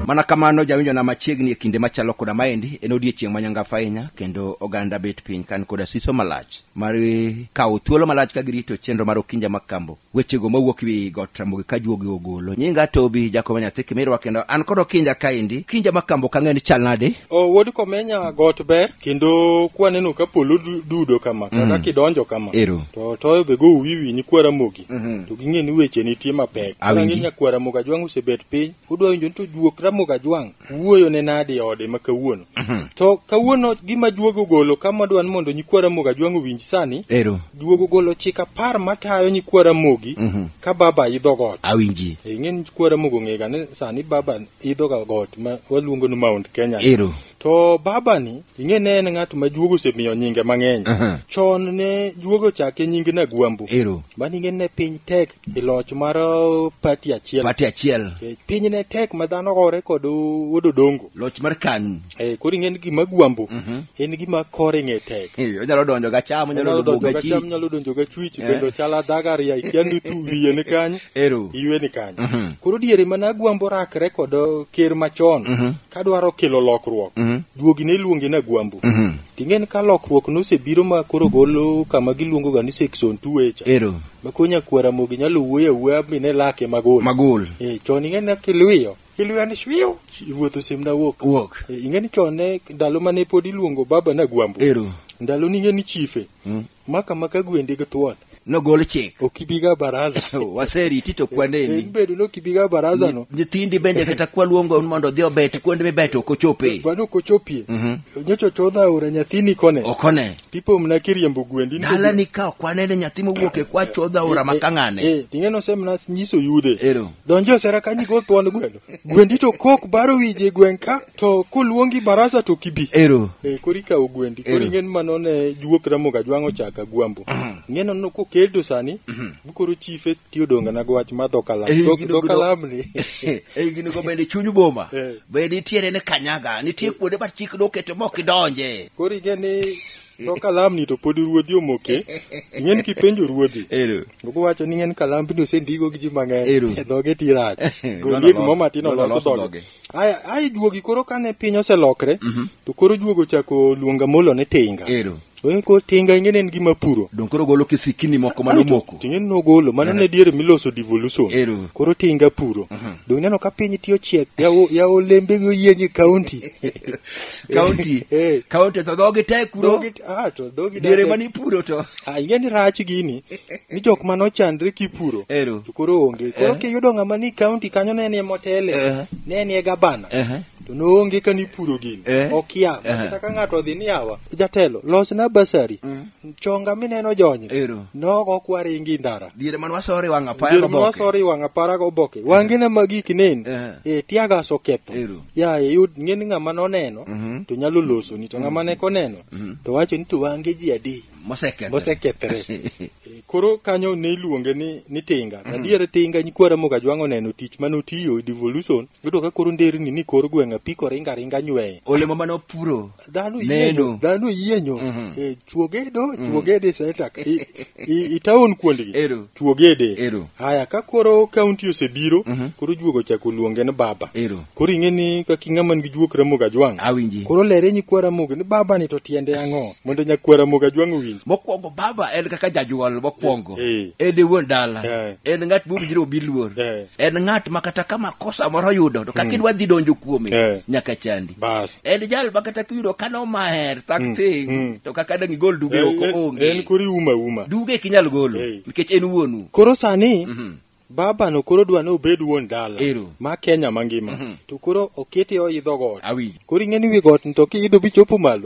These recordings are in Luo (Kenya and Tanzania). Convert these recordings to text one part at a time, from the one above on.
mana kamano jawinjo na machiegni e kinde machalo koda maendi en odiechieng' manyangafu ahinya kendo oganda bet piny kan koda siso malach mar kawo thuolo malach ka girito chenro mar okinja makambo wechego mawuok wi got ramogi ka juogi ogolo nyinga tobi jakoma nyathi kimirwa kendo an kod okinja kaendi kinja makambo kang'e ni chal nade o wuod komenya got ber kendo kwaneno ka polo du- dudo kama kata Mhm. kidonjo kama Ero. to toyo be go wiwi nyikwa ramogi Mhm. to ging'e ni weche nitie mapek Awinji. Rang'i nyakwa ramogi ajwang' osebet piny udwa winjo ni to juok ramogi ajwang' wuoyo ne nadi e ode ma kawuono mhm. to kawuono gima duogo golo kama dwan mondo nyikwa ramogi ajwang' owinj sani ero duogo golo chik apar matayo nyikwa ramogi mhm. ka baba idho got awinji e, ing'e nyikwa ramogi ong'ega ni sani baba idho ga got ma waluongo ni mount kenya ero to baba ni ing'e ne en ng'at ma juogo osemiyo nyinge mang'eny uh -huh. chon ne juogo chake nying na gwambo ero mani ing'e ne piny tek e loch mar uh, pati achiel pati achiel Eh, piny ne tek ma dhano gore kod uh, wuod odongo loch mar kanu Eh, koro ing'e ni gima gwambo en gima kore ng'e tek Eh, onyalo donjo ga cham onyalo onyalo donjo donjo ga ga chi cham nyalo donjo ga chwich Eh. bende ochala dhagaria ikia ni tu wiye ni kanyo Ero. iwe ni kanyo Mhm. koro diere mana gwambo rakre kod uh, ker machon Mhm. kadwaro kelo lokruok Mhm. duogi ne iluonge na gwambo Mhm. ting'e ni ka lokruok nosebiro ma koro golo kama giluongo ga ni section tuwecha ero ma ko nyakuo ramogi nyalo wuoyo awuoya mi ne lake magol magol eh chon ing'e ne kiluyo kiluyo ni shwiu ruoth osemna wuok wuok Eh, ing'e ni chon ne ndalo mane pod iluongo baba na gwambo ero ndalo ni ing'e ni chife Mm. maka maka gwendi gi thuon nogol chik ok ibiga baraza waseriti to Eh, kwaneni bedo ni ok ibiga baraza no nyithindi bende kata kwaluongo mondo odhi obet kuonde mibet ok ochope bano kochopie Mhm. nyocho chodha aora nyathini kone okone Pipo mna kiriembo gwendi. Dalani ka ok wanene nyathi mowuok e kwa chodho aora ma kang'ane. Eh, ting'e nose mna nyiso yudhe. Ero. Donjo e sera kanyi go thuon gweno. Gwendi to kok baro wije gwen ka to kuluongi barasa to kibi. Ero. Eh, kori kawo gwendi. Ero. Kori ng'en mano ne juok ramoga jwang'o chaka gwambo. Ng'eno no kokeldo sani. Bukoro chife ti odongana gi wach mar dho kalam Ei, Dho- gino dho gudo- kalam ni ei gini go bende chuny boma Eh. be nitiere ni kanyaga nitie kuonde ma chik noketo ma ok idonje koro ing'e ni dho kalam ni to pod ruodhi omoke ing'e ni kipenjo ruodhi ero Ogo wacho ni ng'en kalambi ni osendigo gi ji mang'eny. Ero. E dhoge ti rach. Gol Lolo yie gimoro lolo. matin Lolo olos lolo dhoge. dhoge. Aya, ai juogi koro kane piny oselokre Mhm. to koro juogo ochako luonga molo ne tinga Ero. Oen ko tinga ingene en gima puro Donge koro golo kisikini moko mane Aeto, omoko. tinga en nogolo mano ne diere miloso devolution Ero. koro tinga puro dong neno ka piny tiyo chiek ya o- ya olembe gi oyienye county Kaunti. Eh. Kaunti to dhogi tek kuro. Dhogi ah to dhogi diere ma nipuro to ah ing'e ni rach gini ni jok ma nochandre kipuro Ero. to koro onge koro Eh. kiyudo ng'ama ni kaunti kanyo ne nie motele Eh. ne nie gabana Ehe. to noonge ka nipuro gini Eh. okia Eh. kata ka ng'ato odhi ni awa jatelo losna basari Mm. chonga mineno jonyre Ero. nogo kwaringi ndara diere man wasore wang' apaya Dier ma oboke. wasori wang' apara goboke wangine magik nen Eh. e tiagas oketho Ero. ya yud ng'eni ng'ama noneno Mhm. to nyalo losoni to ng'ama ne koneno to wacho ni to wange ji adi Mosekethre. mosekethre Eh, koro kanyo ne iluonge ni, ni tinga adier tinga nyikwara moga jwang' oneno tich mane otiyo e devolution yudo ka koro nderni ni kor gweng' apiko ringa ringa nyweye Olemo mane opuro. dhano Neno. yienyo dhano yienyo Mhm. Eh, chuogede oh, mm. chuogede setak itaon kuondgi chuogede haya ka koro kaunti osebiro mm -hmm. koro juogo chako luonge ni baba Ero. koro ing'e ni kaka ing'ama nigi juok ramogo ajwang' awinji koro lere nyikwa ramogo ni baba ni to tiende ang'o mondo nyakwa ramogo ajwang' owinj mokwongo baba en kaka jajwal mokwongo e, e. en e wuon dala e. en ng'at mowinjire obi luor en ng'at ma kata ka makosa moro yudo to kaka mm. idwa dhi donjo kuome nyaka chandi bas en jal ma kata kiyudo ka nomaher thak mm, thing mm. to kaka dang igol duge oko onge en kori uma uma duge e kinyal golo nikech en wuonu koro sani mm -hmm. baba no koro dwa ni obed wuon dala ma kenya mangima mm -hmm. to koro okete oidho got koro ing'e ni wi got to kiidho bichopo malo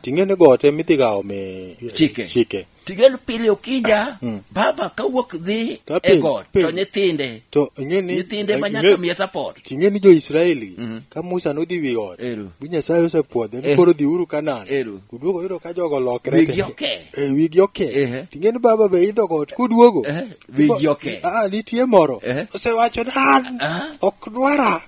ting'e ni got emidhigawo me chike, chike. Tigel pile okinja, Mm. baba kawuok dhi To e apil- got, pil. to nyithinde, to ing'e ni nyithinde eh, ma nyaka ing'e- miye support. ting'e ni jo-israeli Mhm. ka musa nodhi wi ot Ero. mi nyasaye osepwodhe ni Eh. koro dhiuru kanan Ero. uduogo yudo ka jogo lokre Wigi te. oke. Eh, wigi oke Ehe. ting'e ni baba be idho got kuduogo Eh, wigi oke. Ah, nitie moro Eh. osewacho ni an Ah. ok dwara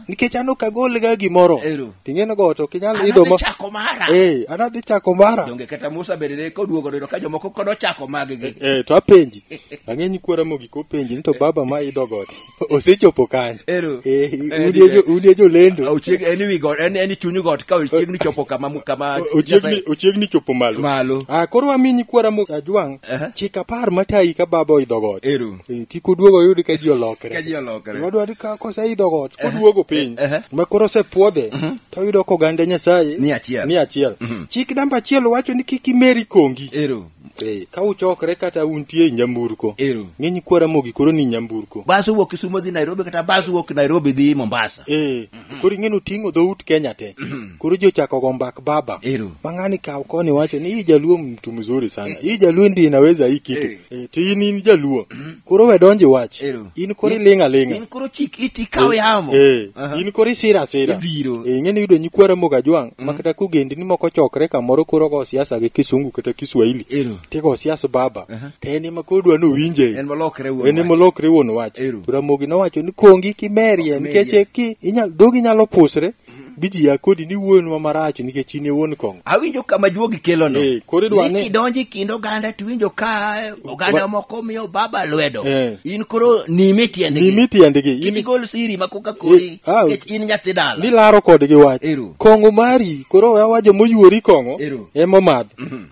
nikech an ok agolga gimoro Ero. ting'eno go to ok inyal An idho adhi ma chako mara. Eh, an adhi chako mara donge kata musa bende ne koduogo dodo ka jomoko kod ochako maggi Eh, to apenji ang'e nyikwara mogik openji ni to baba ma idho got osechopo kanye Ero. Eh, Eh, udie jo- ni- udie jolendo Ochieg- en wi got- en- en i chuny got ka ochiegni chopo kama mu- kama O- ochiegni ochiegni chopo malo Malo. ah koro wami nyikwara mo ajwang' Aha. chik apar matayi ka baba oidho got Ero. Eh, kik oduogo oyud ka ji olokre Ka ji olokre. Gima dwaro ni ka koseidho got koduogo piny ehe. ma koro osepwodhe to oyudo ka oganda nyasaye Ni achiel. ni achiel Mhm. chik namba achiel wacho ni kik imeri kongi Ero. Eh, ka uchokre kata untie e nyamburko Ero. ng'eny kwara mogi koro ni nyamburko Bas owuok Kisumo dhi Nairobi kata bas owuok Nairobi dhi Mombasa. Eh, koro ing'e noting'o dhout kenya te koro ji ochako go mbak baba Ero. mang'ani kaw koni wacho ni hii jaluo mtu mzuri sana hii jaluo ndi inaweza hii kitu Eh. Eh, to in in jaluo koro we donji wach Ero. in koro iling' aling'a in koro chik iti kaw yamo Eh, Aha. in koro isira asira Ibiro. Eh, ing'e ni yudo nyikwara mogajwang' makata kogendni moko chokre kamoro koro go siasa gi kisungu kata kiswahili Ero. tigo siaso baba Aha. to en ema koro dwa nowinje En molokre wuon en ema wach. olokre wuon wach Ero. to ramogi nowacho ni kongi kimerie Kimerie. nikech ki inyal dhogi nyalo pusre bi ji ya kodi ni wuonwa marach nikech in e wuon kong'o awinjo kama juogi kelono Eh, koro idwa ni- kidonjo e kind oganda tiwinjo ka oganda Wa- moko miyo baba lwedo Eh. in koro nime tiendgi nimi tiendgi in in igol siri ma koka kori Eh, ah, nikech in nyathi dala nilaro kodgi wach Ero. kong'o mari koro awajo moyuori kong'o Ero. emomadh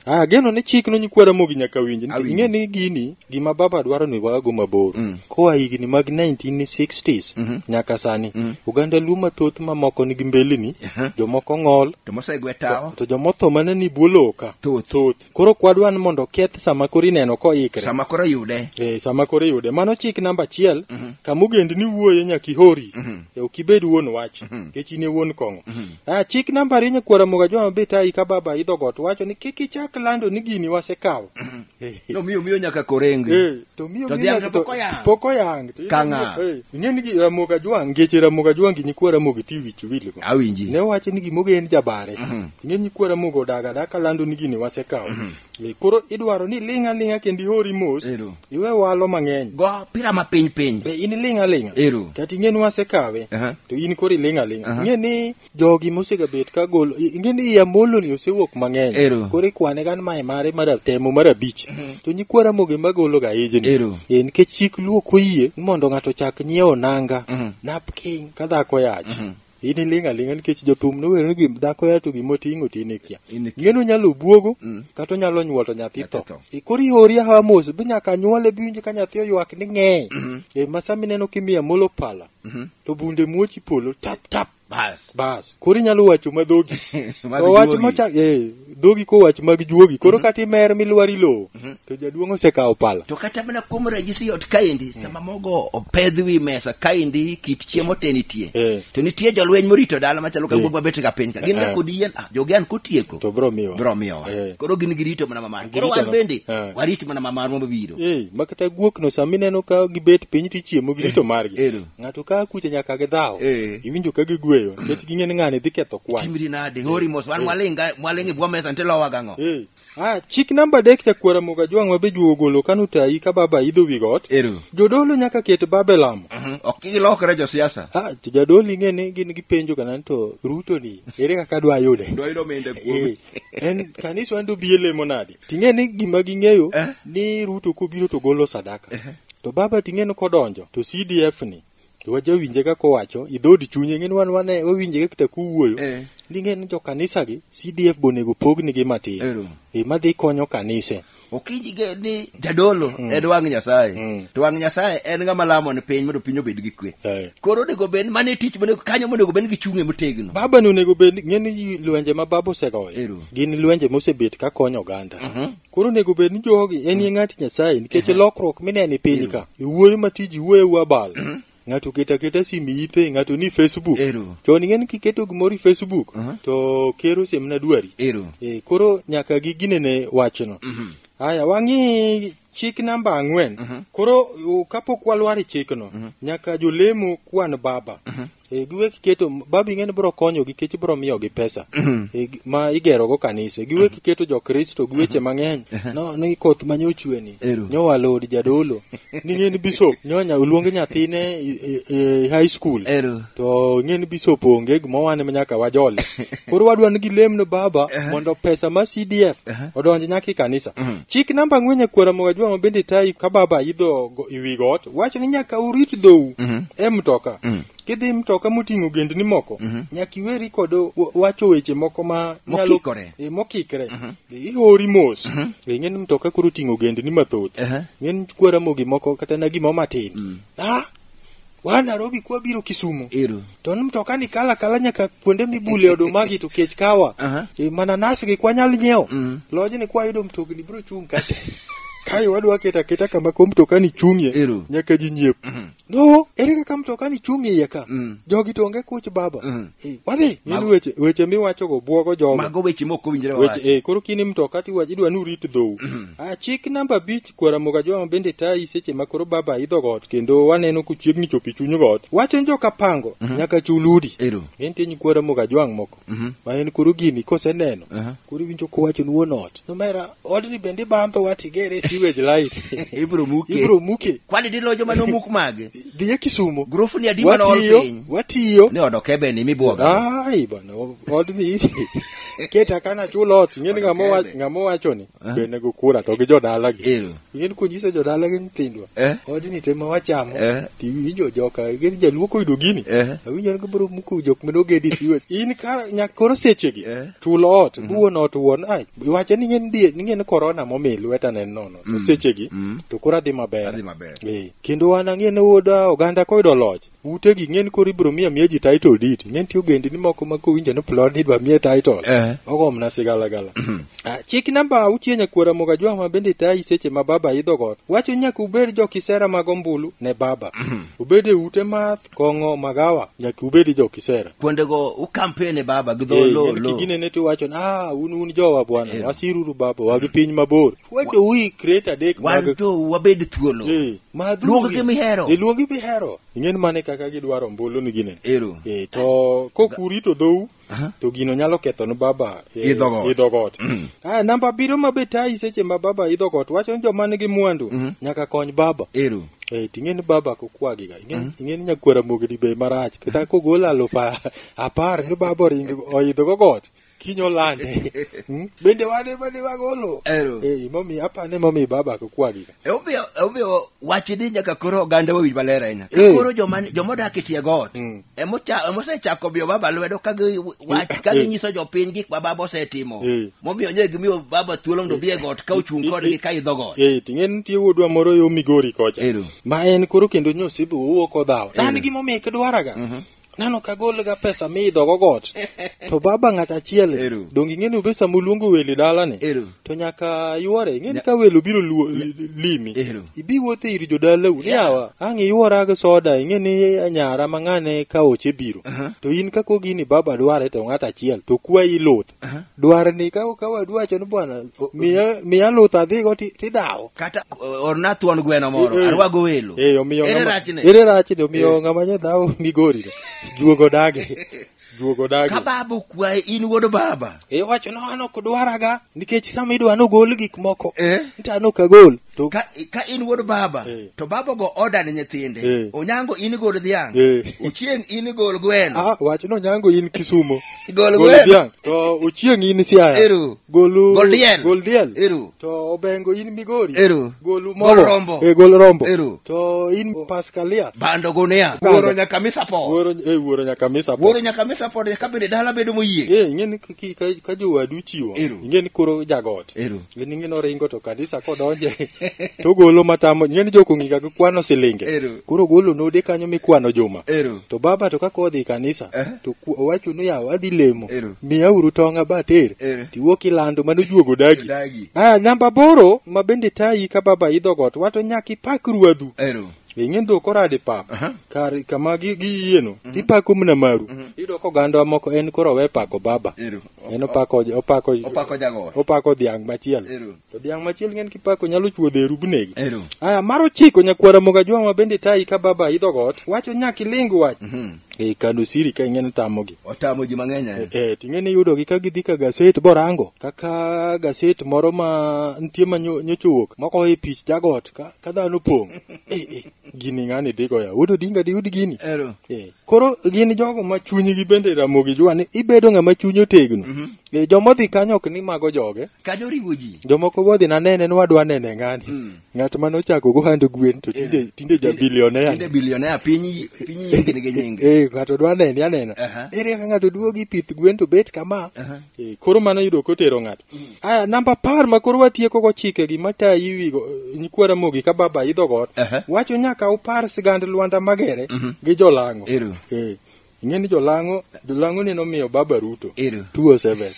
Ah, geno ni chik no nyikwa Ramogi nyaka winji. Awinjo. Ing'e ni gini gima baba dwaro ni wago mabor. Mm. Koa higni mag 1960s Mhm. nyaka sani. Mm. Oganda Luo mathoth mamoko nigi mbelini, Aha. jomoko ng'ol, To mosegwe tawo. to jomotho mana ni buo lowo ka. Thoth. Thoth. Koro kwadwa ni mondo oketh sama koro ineno koikre. Sama koro yude. Eh, sama koro iyude mano chik namba achiel kama ogendni wuoye nyaka ihori Eh, ok ibed wuon wach nikech in e wuon kong'o Ah, chik namba rinye kuora muga joma bit ai ka baba idho got wacho ni kik ichak lando ni gini wasekawo. No miyo miyo nyaka korenge. Eh, to miyo To miyo dhiang' nyaka to pok oyang'. Pok oyang. To Ka ng'a? eh, Ing'e ni gi- Ramogi Ajwang' ngeche Ramogi Ajwang' gi nyikwa Ramogi ti wich wil go. Awinji. Ne wacho ni gimoge en jabare. Ing'e nyikwa Ramogi odaga da kalando ni gini wasekawo. Eh, Koro idwaro ni iling' aling'a kendo ihori mos, Ero. iwe walo mang'eny. Go pira ma piny piny. Be in iling' aling'a? Ero. Kata ing'e ni wasekawe, Aha. to in koro iling' aling'a. Aha. Ing'e ni jogi mosegabet ka golo, i- ing'e ni Amoloni osewuok mang'eny. Ero. Koro ikwane gan mae mare mar temo mar abich. To nyikwa Ramogi ema gologa ijni. Ero. Eh, nikech chik Luo ok oyie ni mondo ng'ato chak nyiewo nanga, Mhm. napkin ka dhako yach. in iling' aling'a nikech jothum nower ni gim- dhako ya to gima oting'o ti in ikia In ikia. ing'eni onyalo obwogo Mm. kata onyalo nyuolo nyathi Nyathi tho tho. E, koro ihori ahawa mos be nyaka nyuole bi winjo ka nyathi oywak ni ng'eye e, ma sama ineno kimiyo amolo pala Mhm. to bunde muochi polo tap tap Bas. bas koro inyalo wacho madhogi Ma to wach duogi. mochak eh, dhogi kowach mag juogi koro kata imer milwari lowo to jaduong' osekawo pala to kata mana kuom ranyisi ot kaendi sama mogo opedh wi mesa kaendi kit chiemo te nitie Eh. to nitie jolweny morito dala machalo ka guogwa bet ka piny ka gin ga Eh. kod yien ah, jogi an kotieko to bro miwa biro miyowa Eh. koro gin girito mana mamar koro Girito wan ma- bende Eh. warit mana mamar mabiro Eh, ma kata guokno sama ineno ka gibet piny tichiemo girito margi Ero. Ng'ato ka akuche nyaka gidhaw. Eh. Iwinjo ka gigweyo nikech ging'e ni ng'ani dhi ketho kwan. Timri nade? Hori mos wan mwaling' ga- mwaling' e bwo mesa nte lowa gang'o? Eh. Ah, chik namba adek chakwara moga jwang' ma be juo golo kano tayi ka baba idho wi got. Ero. Jodolo nyaka ket babe lamo. Mhm. Ok gilokre josiasa. Ah, to jadolo ing'e ni gin gipenjo kana ni to Ruto ni ere kaka dwa yude. Dwa yudo omenda kuome. Eh, en kaniswa ndo bi elemo nadi ting'e ni gima ging'eyo Eh. ni ruto kobiro to golo sadaka Eh. to baba ting'e ni kodonjo to cdf ni to wajawinje ka kowacho idhood chunye ng'e ni wan wane wawinje ka kita kuwuoyo Eh. ning'e ni jokanisagi cdf bonego pognigi matin Ero. e madhi konyo kanise okinyi ge ni jadolo mm. en wang' nyasaye mm. to wang' nyasaye en ng'ama lamo ne piny mondo piny obed gi kwe eh. koro onego bed mane tich monego kanyo monego bed gichung'e motegno baba ni onego bed ng'eni lwenje ma baba osegoyo gin lwenje mosebet ka konyo oganda mhm. koro onego bed ni jogi en ye mm. ng'at nyasaye nikech mhm. lokruok mineni piny ka iwuoyo matiji iwuoyo wabal mhm. ng'ato keto aketa simu ite ng'ato ni facebook Ero. chon ing'eni kiketo gimoro i facebook Aha. to ker osiemna dwari Ero. e, koro nyaka giginene wachno haya wang'i chik namba ang'wen koro u- kapok walwar e chikno nyaka jolemo kwan baba e, giwe kiketo baba ing'eni biro konyogi kech biro miyogi pesa e, gi- ma igerogo kanise giwe kiketo jokristo gi weche mang'eny no, ni koth manye ochweni Ero. nyowa lod jadolo ni ng'eni bishop nyonya oluong nyathine e- e- e high school Ero. to ng'eni bishop onge gima wane ma nyaka wajole koro wadwa ni gilemno baba mondo pesa ma cdf odonj nyaka e kanisa chik namba ang'wen e kwara mogajwa ma bende tayi ka baba idho go- i wi got wacho ni nyaka urit dhou e mtoka kidhi mtoka moting'o gendni moko nyaka iweri kod wa- wacho weche moko ma nyalo- Mokikore. Eh, mokikre ihori mos Mhm. e ng'eni mtoka koro oting'o gendni mathoth Ehe. ng'eni kwa ramogi moko kata na gimo matin Mm. ah wa narobi kwa biro kisumu Ero. to ni mtoka ni kala kala nyaka kuonde mibule odumagi to kech kawa Aha. e, mananas gi kwanyal nyiewo Mm. lony ni kwayudo mtokni biro chung' kate kae wadwa keta keta kama ko mtoka ni chung'ie Ero. nyaka ji nyiep no ere kaka mtokani chung' iye ka Mm. jogi to onge kuch baba Mm. Eh, wadhi min Mago- weche weche miwachogo bwogo jogo mago weche mok owinjore weche wawacho eh, koro kini mtoka tiwach idwa ni urit dhou ah, chik namba abich kwaramoga joma bende tayi seche ma koro baba idho got kendo waneno kuchiegni chopo e chuny got wacho ni joka pango nyaka chul udi ero entie nyi kwaramoga jwang' moko Mhm. ma en koro gini koseneno Aha. koro iwinjo kowachoni wuon ot nomera odni bende ibandho wat igere e sewage light Ibro muke. ibro muke Kwani dilo joma nomuk mage? dhiye kisumo Grufu ni adi mane ool watiyo piny? watiyo Ni odo kebe ni mibuoga. ai bana odni keta kana chulo ot ing'eni ng'ama owa- Kebe. ng'ama owachoni Eh? be nego kura to gi jodalagi Ero. ing'eni konyiso jodalagi nyithindwa Eh? odni te ma wachamo Eh? to iwinjo joka ing'eni jaluo koyudo gini Eh? awinjo ni gibiro muko jok mane ogedi siwe in kar nyak koro sechegi Eh? chulo ot buon ot wuon ai wache ni ng'en die ni ng'en korona momi lweta ne nono to sechegi Mm. to koro adhi maber Adhi maber. Eh, kendo wan ang'e ne wuod ah, oganda koyudo loch Ute gi ng'en koro ibiro miya miya ji title deed. Ng'en ti ogendini moko ma kowinjo ni plod ni idwa miye title. Eh. Ogo mna sigala gala. Ah, Chik namba auchiel nyakwara moga jwa ma bende tayi seche ma baba idho got. Wacho nyaka ubed jo kisera mag ombulu ne baba. Ubed e ute math, kong'o, magawa. Nyaka ubed jo kisera. Kuondego ukampene baba gi dho Eh, lo ng'en lo. kigine ne tiwacho ni ah un un jowa bwana wasiruru baba wagi piny mabor. Why do we create a deck Wan mag to wabed thuolo. Eh. Madhuri. Luong gi mihero. E, luongi mihero. Ing'en mane kaka gidwaro mbolo ni gine. Ero. E, to kokurito dhou Aha. to gino nyalo ketho ne baba e, Idho got. idho got. Mm. Ah, namba abiriyo ma be tayi seche ma baba idho got wacho ni joma nigi mwandu Mhm. nyaka kony baba. Ero. Eh, ting'eni baba kokwagiga ing'eni ing'eni nyakwara mogni be marach kata kogolo alufa apar ni baba oringo oidho go got kiny olande Hmm? bende wane mane wagolo Ero. Eh, momi apane momi baba kokwagi ka Omiyo omiyo wache ni nyaka koro oganda wawinj maler ahinya. Ka Eh. Koro joma joma odak e tie got Mm. ema ocha- ema osechako biyo baba lwedo ka gi wach ka Eh. ginyiso jopiny gik ma baba osetimo. Eh. Momiyo nye gimiyo baba thuolo mondo obi e got ka ochung' Eh, kodgi eh. ka idho got. Eh, ting'e nitie wuodwa moro yo migori kocha Ero. ma en koro kendo nyosibu owuok odhawo en Ero. gimomiyo ikidwaraga nano ka gol ga pesa miidho go got to baba ng'at achiel Eru. donge ing'e ni be sama uluongo welo e dalani Eru. to nyaka yuore ing'e ni ka welo biro luo- limi Eru. ibi wuothe ir jodalau ni yawa ang' iywora gi soda ing'e ni nyara mang'ane ka oche biro to in ka kogi ni baba dware to ng'at achiel to kwayi luth dwar ni ka ka wadu wacho ni bwana miya miya luth adhigo ti- tidhawo kata uh, orna thuon gweno moro Eh. arwago welo Eh, omiyo ere ng'ama- rachne ere rachne omiyo ng'ama nye dhawo migori juogo dage juogo dage ka baba okwaye in wuod baba iwacho no an ok dwaraga nikech sama idwa nogol gik moko Eh. nta an ok agol To- ka, ka in wuod baba Eh. to baba go oda ne nyithinde Eh. onyango in igol dhiang' Eh. ochieng' in igol gweno Ah, wach no nyango in kisumo Gol Gol gweno. dhiang' to uchieng' in siaya Eru. golu Gol diel. gol diel Eru. to obengo in migori Eru. golu Gol mogo. rombo. eh, gol rombo Eru. to in paskalia bando gunia Kanda. wuoro nyaka misa po wuoro eh, wuoro nyaka misa po. wuoro nyaka misa pod ka bende dala bedo moyie eh ing'e ni ki- ki- ka- ka jowadu chiwo Eru. ing'e ni koro jagot Eru. Gini ng'e noringo to kanisa kodonje to golo matamo ng'eni joko ng'iga gi kwano silinge Ero. koro golo node kanyo mikwano juma Ero. to baba to kaka odhi kanisa Eh. to ku- owacho ni yawa adhi lemo Ero. miya uru tonga bater Ero. tiwuok ilando mano juogo dagi Dagi. ah namba boro ma bende tayi ka baba idho got wato nyaka ipak ruadhu Ero. ing'e ndho korade pap Aha. kar kama gi- giyieno ipako mna maru iyudo ka oganda moko en koro we pako baba Ero. En opako opako Opako jagoro. opako dhiang' machielo. Ero. To dhiang' machielo ng'en kipako nyalo chuodho e rubnegi. Ero. Aya mar ochiko nyakwara moga jwang' ma bende tayi ka baba idho got. Wacho nyaka iling wach. Mhm. E kano siri ka ing'en tamogi. Otamo ji mang'eny ahinya. Eh, ting'eni yudogi ka gidhi ka gaset borango kaka gaset moro ma nitie ma nyo- nyocha owuok moko e pich jagot ka, ka dhano pong' eh, eh. gini ng'ani dhi goya wuod odinga diyud gini Ero. Eh, koro gin jogo ma chunygi bende ramogi jua ni ibedo ng'ama chuny otegno Eh, joma odhi kanyo ok ni mago joge Kanyo oriwo ji. jomoko bodhi nanene ni wadwa nene ng'ani ng'at mane ochako go hand gwen to tinde tinde Tinde jabilionea bilionea piny piny yengni gi nyinge. Eh, ng'ato dwa nene anena Aha. ere ka ng'ato duogi pith gwen to bet kama Aha. Eh, koro mano yudo kotero ng'ato aya namba par ma koro watieko go chike gi mata iwigo nyikwa ramogi ka baba idho got Aha. wacho nyaka upar sigand lwanda magere gi jolango Ero. Eh, ing'e ni jolango jolango ne nomiyo baba ruto Ero. 207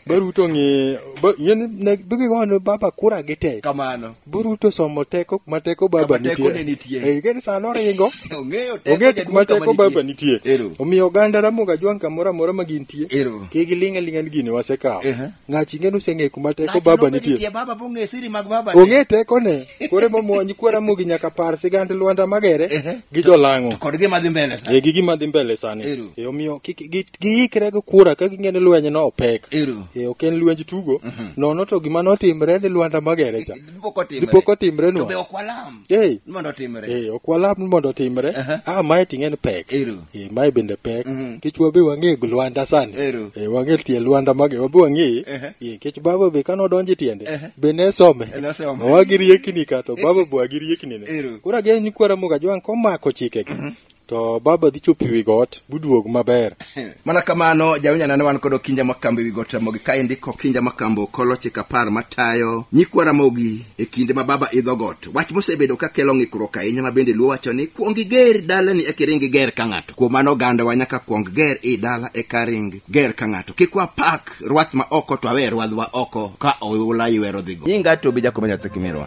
baruto ng'e ba- ing'e ni ne- bigigoyo ne baba kura gi tek kamano Buruto somo teko kuma teko baba Kama teko ne nitie. nitie. Eh, gani sano ringo. Ong'eyo teko Onge jaduong' kuma kama teko baba nitie. Ero. Omiyo oganda Ramogi Ajwang' kamoro amora ma gintie. Ero. Ki giling' alinga ni gini wasekawo. Ehe. Ng'achi ng'e ni useng'e kuma teko Ng'ato baba nobe nitie. baba bong'e siri mag baba. Ong'e teko ne. Kore momo nyikwa Ramogi nyaka par sigand Lwanda Magere Ehe. gi Jolang'o. Kod gima dhi mbele sa. E gi gima dhi mbele sani. Ero. E omiyo kik gi- giikre gi kura ka ging'e ni lweny no opek Ero. e, ok en lwenj tugo nono to gima notimre ni lwanda magere cha Dipo kotimre. dipo To be kotimrenwa ok walam. Ei. Ni Mondo otimre. e, ok walam ni mondo otimre Aha. ah, mae ting'e ni pek Ero. e, mae bende pek Mhm. kech wabe wang'e gi lwanda sani Ero. e, wang'e tie lwanda mage wabe wang'e Ehe. e, kech baba be kane odonje tiende Ehe. be ne some E, nosome. wagi riekni ka to baba be wagi riekni ne Ero. koro ageno ni kwara muga jwang' komako chikegi To baba dhi chopo wi got buduog maber. mana kamano jawinjana ne wan kod okinja makambo ewi got ramogi kaendi kokinja makambo kolo chik apar matayo nyikwa ramogi e kinde ma baba idho got wach mosebedo ka kelo ng'ikruok ahinya ma bende luo wacho ni kuong iger dalani eka iring iger ka ng'ato kuom mano ogandawa nyaka kuong ger i dala eka ring ger ka ng'ato kik wapak rwath ma oko to awe rwadhwa oko ka oula iwero dhigo nyinga to bija kuma nyathi kimirwa